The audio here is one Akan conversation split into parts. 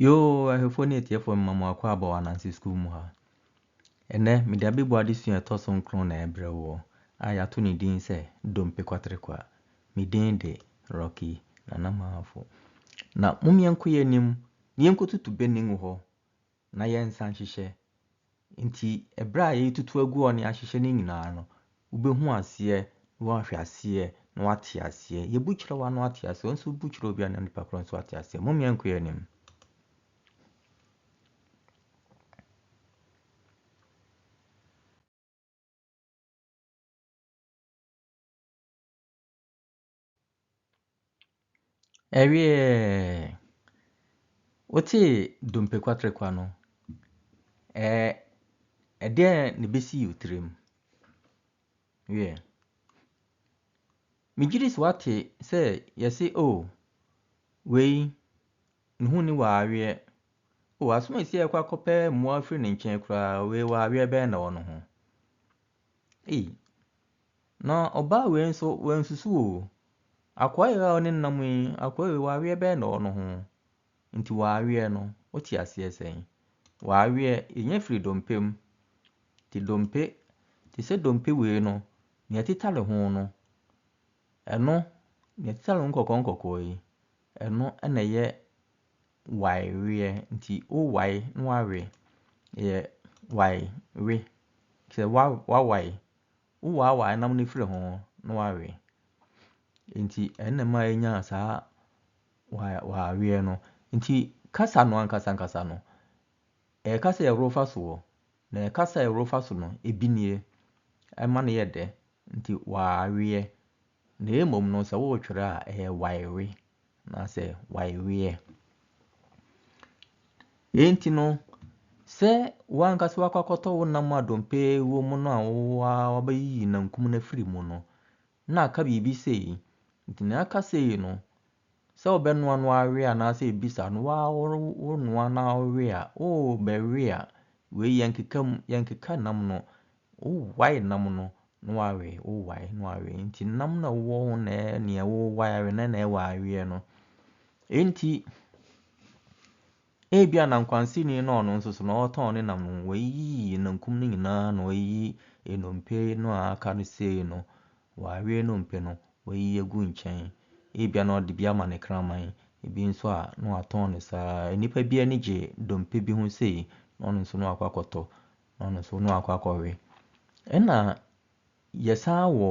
Yoo ahwɛfoɔ ne atiefoɔ mema mo akɔ aba wɔ Ananse Sukuu mu ha. Ɛnnɛ, mede abɛbua adesua a ɛtɔ so nkron na ɛrebrɛ woɔ a yɛato ne din sɛ Dompe Kwatere Kwa. Me din de Rocky Nana Maafo. Na mom yɛnkɔ yɛn anim na yɛnkɔtutu bɛnning hɔ na yɛnsa nhyehyɛ. Nti ɛberɛ a yɛretutu agu hɔ na yɛahyehyɛ no nyinaa no, wobɛhu aseɛ na woahwɛ aseɛ na woate aseɛ. Yɛbu kyerɛ wo a na woate aseɛ, wo nso bu kyerɛ obi a na nipa korɔ nso ate aseɛ. Mom yɛnkɔ yɛn anim. Ɛwieeɛɛɛɛ! Wotee dompe kwaterekwa no? Ɛɛ ɛdeɛn na ɛbɛsii wo tirim? Wiɛ. Megye di sɛ woate sɛ wɔse o wei ne ho nni w'aweɛ. O asom a ɛsii a yɛkɔ akɔpɛ mmoa firii ne nkyɛn koraa, wei w'aweɛ bɛn na ɛwɔ ne ho? Ei, na ɔbaa wei nso wansusu o. Akoa wei a ɔne no nam yi, akoa wei w'aweɛ bɛyɛ na ɔwɔ ne ho. Nti w'aweɛ no, wote aseɛ sɛn? W'aweɛ, ɛnya firi dompe mu. Te dompe, te sɛ dompe wei no, deɛ ɛteta ne ho no, ɛno, deɛ ɛteta ne ho nkɔkɔɔ nkɔkɔɔ yi, ɛno na ɛyɛ waeweɛ nti wowae na wawe yɛ waewe. Te sɛ wa wawae, wowaawae nam no afiri ho na wawe. Nti ɛno na ɛma yɛnya saa wa waeweɛ no. Nti kasa no ankasa ankasa no, ɛyɛ kasa a yɛworo fa so o, na kasa a yɛworo fa so no, ebi nie, ɛma no yɛ dɛ, nti waeweɛ. Na mmom no, sɛ woretwerɛ a, ɛyɛ waewe anaasɛ waeweɛ. Yei nti no, sɛ w'ankasa wakɔ akɔtɔ wo nam a dompe wɔ mu no a wabɛyiyi nankum no afiri mu no, na aka biribi sei, nti nea aka sei no, Sɛ wobɛnoa no ara we anaasɛ ebisa no, woaa wonoa na wowe a, oo bɛwe a, wei yɛnkeka mu, yɛnkeka nam no. Wowae nam no na woawe, wowae na woawe. Nti nam no a wowɔ ho na ɛyɛ nea wowae awe no na ɛwɔ aweɛ no. Enti. Ebia na nkwansini na ɔno nso so na ɔretɔn ne nam no, wayiyi nankum no nyinaa na wayiyi nnompe no a aka no sei no, wawe nnompe no, wayiyi agu nkyɛn. Ebia na ɔde bi ama ne kraman, ebi nso a na watɔn no saa ara. Nnipa bi ani gye dompe bi ho sei, na ɔno nso na wakɔ akɔtɔ, na ɔno nso na wakɔ akɔwe. Ɛnna yɛsan wɔ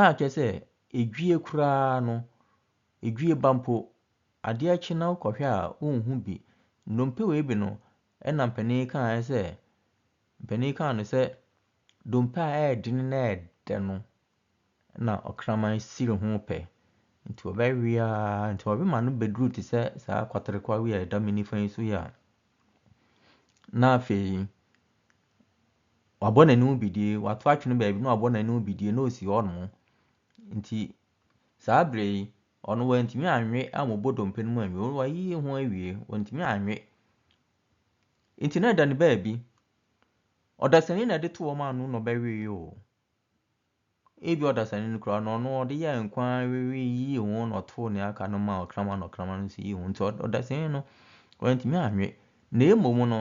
A kyerɛ sɛ, edwie koraa no, edwie ba mpo, adeɛ kye na wokɔhwɛ a, wonhu bi. Nnompe wei bi no, ɛna mpanin kaeɛ sɛ, mpanin kaa no sɛ, dompe a ɛyɛ den na ɛyɛ dɛ no na ɔkraman siri ho pɛ. Nti ɔbɛwe ara, nti ɔwe ma no bɛduru te sɛ saa kwaterekwawe a ɛda me nifa yi so yi a, na afei Wabɔ n'anim bidie, wato atwene baabi na wabɔ n'anim bidie na ɔsi hɔ nom. Nti saa berɛ yi, ɔno wantumi anwe ammobɔ dompe no mu anwie, ɔno wayiyi ho awie, wantumi anwe. Nti na ɛda ne baabi. Ɔdasani na ɛde to wɔn ano na ɔbɛwee o. Ebia ɔdasani no koraa no, ɔno ɔde yɛɛ nko ara yiyii ho na ɔtoo nea aka no maa ɔkraman na ɔkraman no nso yii ho. Nti ɔdasani no, wantumi anwe. Na mmom no,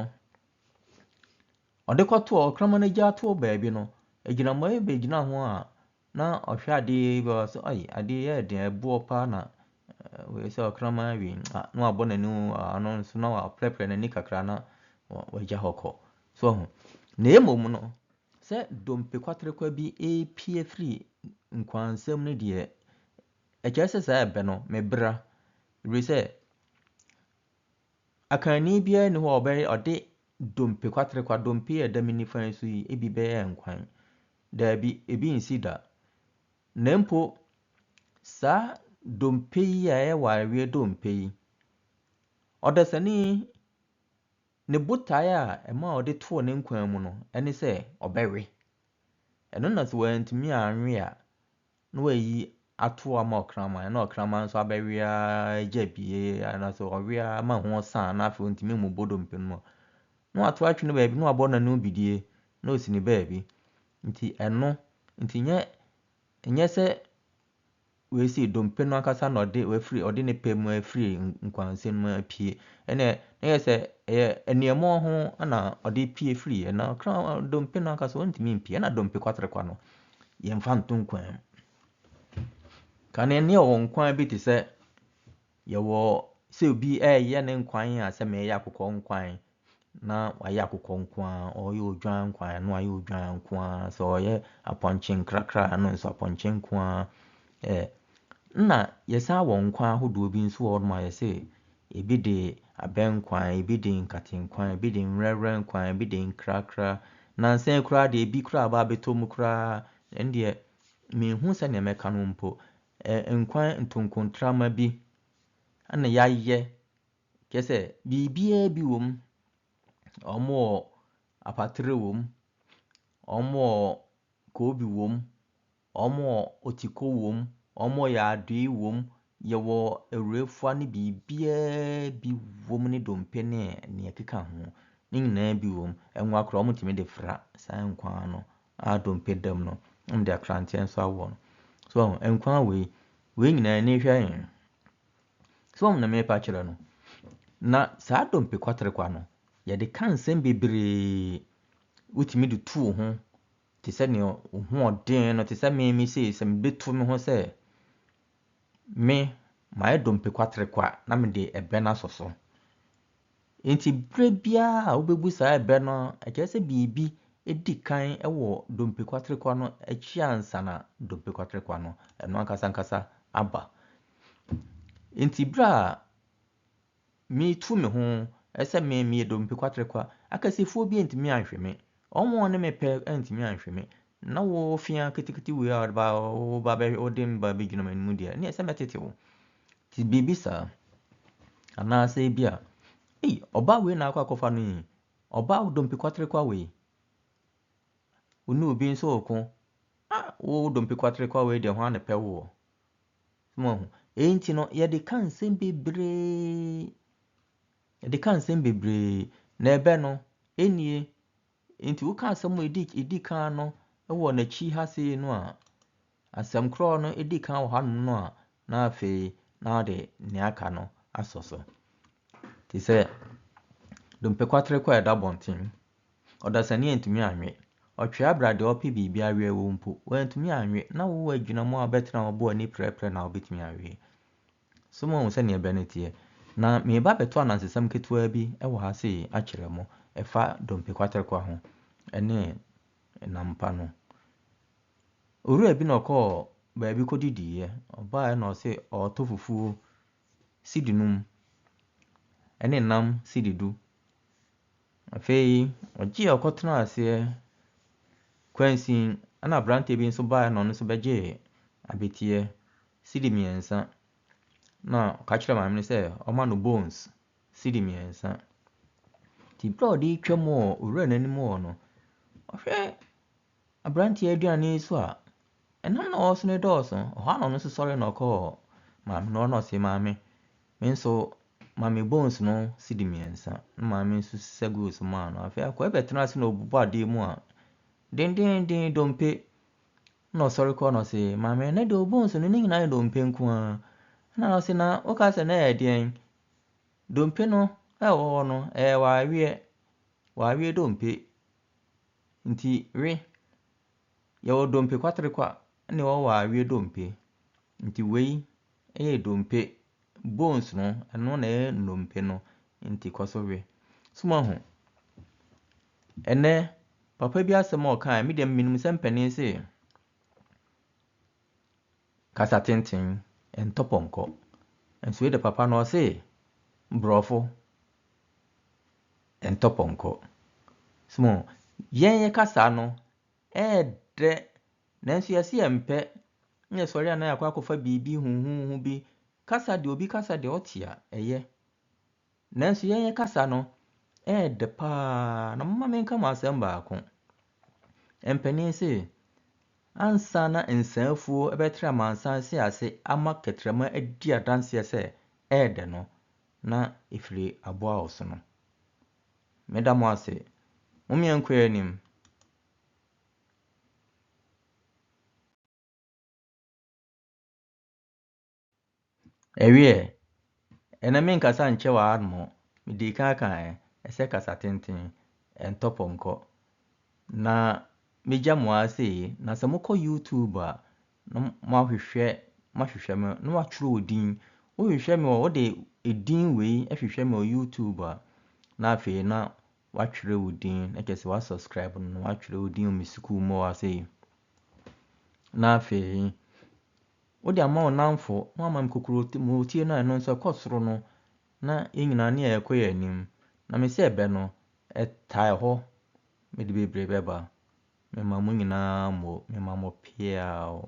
ɔde kɔtoo ɔkraman no gya too baabi no, agyinamoa yi bɛgyinaa ho a na ɔhwɛ adeɛ yi bi a ɔse ai, adeɛ yi ɛyɛ den, ɛboɔ pa ara na wei sɛ ɔkraman awe yi, ah, na wabɔ n'ani mu wɔ ano nso na waprɛprɛ n'ani kakra na wagya hɔ kɔ. So ho? Na mmom no, Sɛ dompe kwaterekwa bi repue afiri nkwansɛm no deɛ, ɛkyerɛ sɛ saa ɛbɛ no, mebra. Ɛfiri sɛ, akanni biara nni hɔ a ɔbɛyɛ ɔde dompe kwaterekwa, dompe a ɛda me nifa yi so yi, ebi bɛyɛ nkwan. Daabi, ebi nsi da. Na mpo, saa dompe yi a ɛyɛ wareɛ dompe yi, ɔdasani Ne botae a ɛmaa ɔde too ne nkwa mu no ne sɛ ɔbɛwe. Ɛno na sɛ wantumi anwe a, na wayi ato ama ɔkraman, na ɔkraman nso abɛwe ara agya bie, anaasɛ ɔwe ara ma ho san, na afei ɔntumi mmobɔ dompe no mu a, na wato atwe no baabi, na wabɔ n'ano bidie, na ɔsi ne baabi. Nti ɛno, nti nyɛ, nyɛ sɛ Wei sei, dompe no ankasa na ɔde wafiri, ɔde ne pɛ mu afiri nkwansɛn mu apue. Ɛnna na yɛ sɛ ɛyɛ aniamɔ ho na ɔde pue firiiɛ. Na ɔkra dompe no ankasa ɔntumi mpue. Ɛnna dompe kwaterekwa no, yɛmfa nto nkwan mu. Ka no nneɛ ɔwɔ nkwan bi te sɛ Yɛwɔ sɛ obi reyɛ ne nkwan a sɛ meyɛ akokɔ nkwan na wayɛ akokɔ nko ara, ɔreyɛ odwan nkwan a na wayɛ odwan nko ara, sɛ ɔreyɛ apɔnkye nkrakra a ɛno nso apɔnkye nko ara. Ɛ na yɛsan wɔ nkwan ahodoɔ bi nso wɔ hɔnom a yɛse ebi de abɛ nkwan, ebi de nkate nkwan, ebi de nwerɛwerɛ nkwan, ebi de nkrakra. Nansa yi koraa deɛ ebi koraa aba abɛtɔ mu koraa, ɛndeɛ menhu sɛdeɛ mɛka no mpo. Ɛɛ nkwan ntonkontrama bi na yɛayɛ, kyerɛ sɛ biribiara bi wom. Wɔwɔ apatere wom, wɔwɔ koobi wom, wɔwɔ otiko wom, wɔwɔ yaadoe wom, yɛwɔ awurafua ne biribiara bi wom ne dompe ne nea ɛkeka ho. Ne nyinaa bi wom. Ɛngoa koraa wɔtumi de fra saa nkwan no. ara dompe dam no, na mede akranteɛ nso awoɔ no. So wahu? Nkwa wei, wei nyinaa ani hwɛ he? So wahu na merepa kyerɛ no? Na saa dompe kwaterekwa no, yɛde ka nsɛm bebree. Wotumi de tu wo ho te sɛ nea wo ho ɔden no, te sɛ me me sei, sɛ mebetu me ho sɛ me mayɛ dompe kwaterekwa na mede ɛbɛn asɔ so. Enti berɛ biara a wobɛbu saa ɛbɛ no, ɛkyerɛ sɛ biribi di kan wɔ dompe kwaterekwa no akyi ansa na dompe kwaterekwa no ɛno ankasa ankasa aba. Enti berɛ a meretu me ho sɛ me meyɛ dompe kwaterekwa, akasifoɔ bi antumi anhwe me, wɔn a wɔne me pɛ antumi anhwe me, Na wo ofiaa ketekete wei a ɔde ba wo ba bɛ wode me ba bɛgyina m'anim deɛ ne ɛsɛ mɛtete wo ti biribi saa anaasɛ ebi a ei ɔbaa wei na akɔ akɔfa no yi ɔbaa dompe kwatere kwa wei wo ne obi nso ɔko ah wo dompe kwatere kwa wei deɛ ho ano pɛ woɔ mo ahu ɛyi nti no yɛde ka nsɛm bebree yɛde ka nsɛm bebree na ɛbɛ no ɛnie Nti woka asɛm a ɛdi ɛdi kan no wɔ n'akyi ha sei no a, asɛm korɔ no ɛdi kan wɔ hanom no a, na afei na wode nea aka no asɔ so. Te sɛ dompe kwatere kɔ a ɛda abɔnten, ɔdasani antumi anwe. Ɔtwea bra deɛ ɔpɛ biribi awe wo mpo, wantumi anwe. Na wowɔ agyinamu a wobɛtena hɔ abɔ w'ani prɛprɛ na wobɛtumi awe. So moahu sɛdeɛ ɛberɛ no teɛ? Na mereba abɛto anansesɛm ketewaa bi wɔ ha sei akyerɛ mo, ɛfa dompe kwaterekwa ho, ne nam pa no. Owura bi na ɔkɔɔ baabi kɔdidiiɛ, ɔbaeɛ na ɔse ɔretɔ fufuo sidi num, ne nam sidi du. Afei ɔgyeeɛ ɔkɔtenaa aseɛ, kwansin na aberanteɛ bi nso baeɛ na ɔno nso bɛgyee abɛteɛ, cedi mmiɛnsa, na ɔka kyerɛɛ maame no sɛ ɔmma no bones cedi mmiɛnsa. Nti berɛ a ɔde retwa mu wɔ owura no anim hɔ no, ɔhwɛ aberanteɛ aduane yi so a, ɛnam na ɔwɔ so no dɔɔso. Ɛhɔ a na ɔno nso sɔre na ɔkɔɔ maame no hɔ na ɔse, maame, me nso ma me bones no cedi mmiɛnsa. Na maame nso sisa guu so maa no. Afei akɔɛ bɛtena ase na ɔbobɔ adeɛ mu a, dendeenden dompe. Nna ɔsɔr kɔ na ɔse, Maame, ndɛ de obohu so no, ne nyina yɛ dompe nko ara. Nna no ɔse, Na wokaa sɛ na ɛyɛ deɛn? Dompe no a ɛwɔ hɔ no, ɛyɛ w'aweɛ, w'aweɛ dompe. Nti we, yɛwɔ dompe kwaterekwa na yɛwɔ w'aweɛ dompe. Nti wei yɛ dompe Bones no ɛno na ɛyɛ nnompe no nti kɔ so we. So moahu? Ɛnnɛ, papa bi asɛm a ɔkaeɛ, me deɛ menim sɛ mpanin se kasa tenten ntɔ pɔnkɔ. Nso wei de papa no ɔse borɔfo ntɔ pɔnkɔ. So moahu? Yɛn yɛka saa no, ɛɛdɛ Nanso yɛse yɛmpɛ, na yɛsɔre a na yɛakɔ akɔfa biribi huhuuhu bi kasa deɛ obi kasa deɛ ɔte a ɛyɛ. Nanso yɛn yɛ kasa no ɛɛdɛ paa na moma menka mo asɛm baako. Mpanin se ansa na nsaafuo ɛbɛtra amansan se ase ama kɛtrɛma adi adanseɛ sɛ ɛɛdɛ no na ɛfiri aboa ɔsono. Meda mo ase. Momeɛnkɔ yɛn anim. Ɛweɛ, ɛnɛ menkasa nkyɛ w'anom, medii kan aka ɛ, ɛsɛ kasa tenten, ɛntɔ pɔnkɔ. Na megya mo ara sei, na sɛ mokɔ YouTube a, na moahwehwɛ, moahwehwɛ me, na moatwerɛ odin. Wohwehwɛ me wɔ, wode edin wei hwehwɛ me wɔ YouTube a, na afei na Watwerɛ wo din na kyerɛ sɛ wa subscribe no na watwerɛ wo din wɔ me sukuu mu hɔ a sei. Na afei wode ama wo namfo na wama me kokurotie no a ɛno nso ɛkɔ soro no na yɛn nyinaa ne ɛrekɔ yɛn anim. Na me sɛ ɛbɛ no ɛtae hɔ mede bebree bɛba. Mema mo nyinaa mo, mema mo peaw.